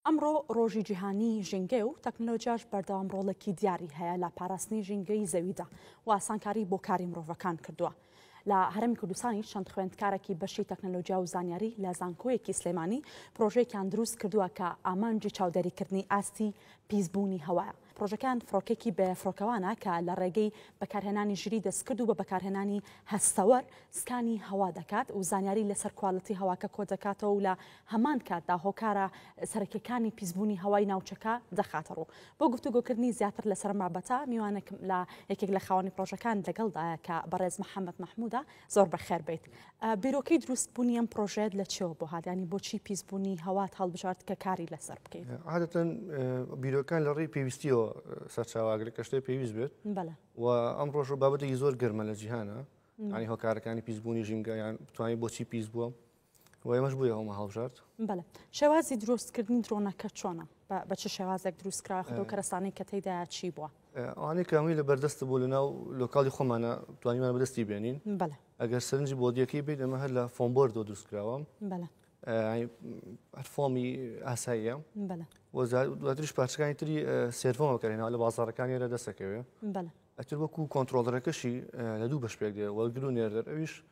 ئەمڕۆ ڕۆژی جیهانی ژینگەیە و تەکنەلۆجیاش بەردەوام ڕۆڵێکی دیاری هەیە لە پاراستنی ژینگەی زەویدا و ئاسانکاری بۆ کاری مرۆڤەکان کردووە. لە هەرمی کوردستانی چەند خوێندکارێکی بەشی تەکنەلۆجیا و زانیاری لە زانکۆیەکی سلێمانی پرۆژەیەکیان دروست کردووە کە ئامانجی چاودێریکردنی ئاستی پیسبوونی هەوایە پڕۆژەکەیان فڕۆکەیەکی بێ فڕۆکەوانە کە لە ڕێگەی بەکارهێنانی ژیریی دەستکرد و بە بەکارهێنانی هەستەوەر سکانی هەوا دەکات و زانیاری لەسەر کوالێتی هەواکە کۆدەکاتەوە و لە هەمان کاتدا هۆکارە سەرەکییەکانی پیسبوونی هەوای ناوچەکە دەخاتەڕوو. بۆ گفتوگۆکردنی زیاتر لەسەر ئەم بابەتە میوانێکم لە یەکێک لە خاوەنی پڕۆژەکان لەگەڵدایە کە بەڕێز محەمەد مەحموودە زۆر بەخێر بێیت. بیرۆکەی دروست بونی ئەم پرۆژەیەت لە چێوە بۆ هات یانی بۆچی پیس بونی هەوات هەڵبژارد کە کاری لەسەر بکەیت؟ عادەتەن بیرۆکان لە ڕێی پێویستیەوە سەرچاوە ئاگرێک کە شتێ پێویست بێت بەلە و ئەم ڕۆژە بابەتێکی زۆر گەرمە لە جیهانە ینی هۆکارەکانی پیس بونی ژینگە یان بتوانین بۆچی پیس بوە؟ وە ئێمەش بۆیە هەومە هەڵبژارد. بەلێ شێوازی دروست کردنی درۆنەکە چۆنە بە چ شێوازێک دروست کراوە خۆ کەرەسانەی کە تێیدا چی بووە ئەوانەی کامی لە بەردەست بوو لە ناو لۆکاڵی خۆمانە توانیمان بەدەستی بێنین بەلێ ئەگەر سەرنجی بۆدیەکەی بیت ئەمە هەر لە فۆمبۆردۆ دروست کراوە بەلێ فۆمی ئاساییە بەلێ وەزارش پارچەکانی تری سێرفۆم بەکەێنەوە لە بازارەکانی ئێرە دەسەکەوێ بەلێ ئەتر وەکو کۆنتترۆلەکەشی لە دوو بەش پێک دێ وەگرو نێردەر ئەویش بە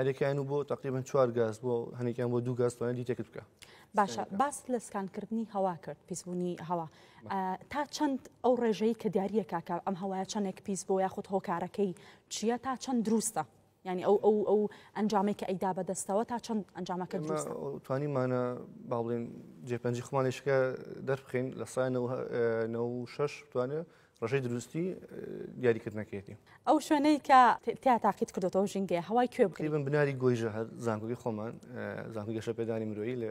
هەرێکیان و بۆ تقریبن چوار گاز بۆ هەنێکیان بۆ دوو گاز توانێت دیتێکت بکە باشە باس لە سکانکردنی هەوا کرد پیسبوونی هەوا تا چەند ئەو ڕێژەی کە دیارە کاکە ئەم هەوایە چەندێک پیس بۆ یاخود هۆکارەکەی چییە تا چەند دروستە ینی ئەو ئەو ئەو ئەنجامێک کە ئەیدا بەدەستەوە تا چەند ئەنجامەکە توانیمانە باڵێن جێپەنجی خمانێشکە دەربخین لە سای شش توانێت ڕێژەی دروستی دیاریکردنەکەیەتی. ئەو شوێنەی کە تیا تاقیت کردێتەوە ژینگەیە هەوای کوێ بکەیبن بناری گۆیژە هەر زانکۆی خۆمان زانکو گەشە پێدانی مرۆیی لە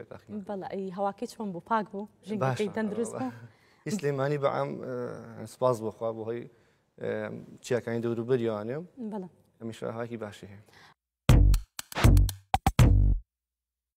بەڵی هەواکەی چۆن بوو پاک بوو ژینگەکەی تەندروست بوو ئیسلێمانی بەعام سپاس بخوا بۆ هۆی چیاکانی دەوروبەریانێ هەمیشە هاکی باشی هەیە.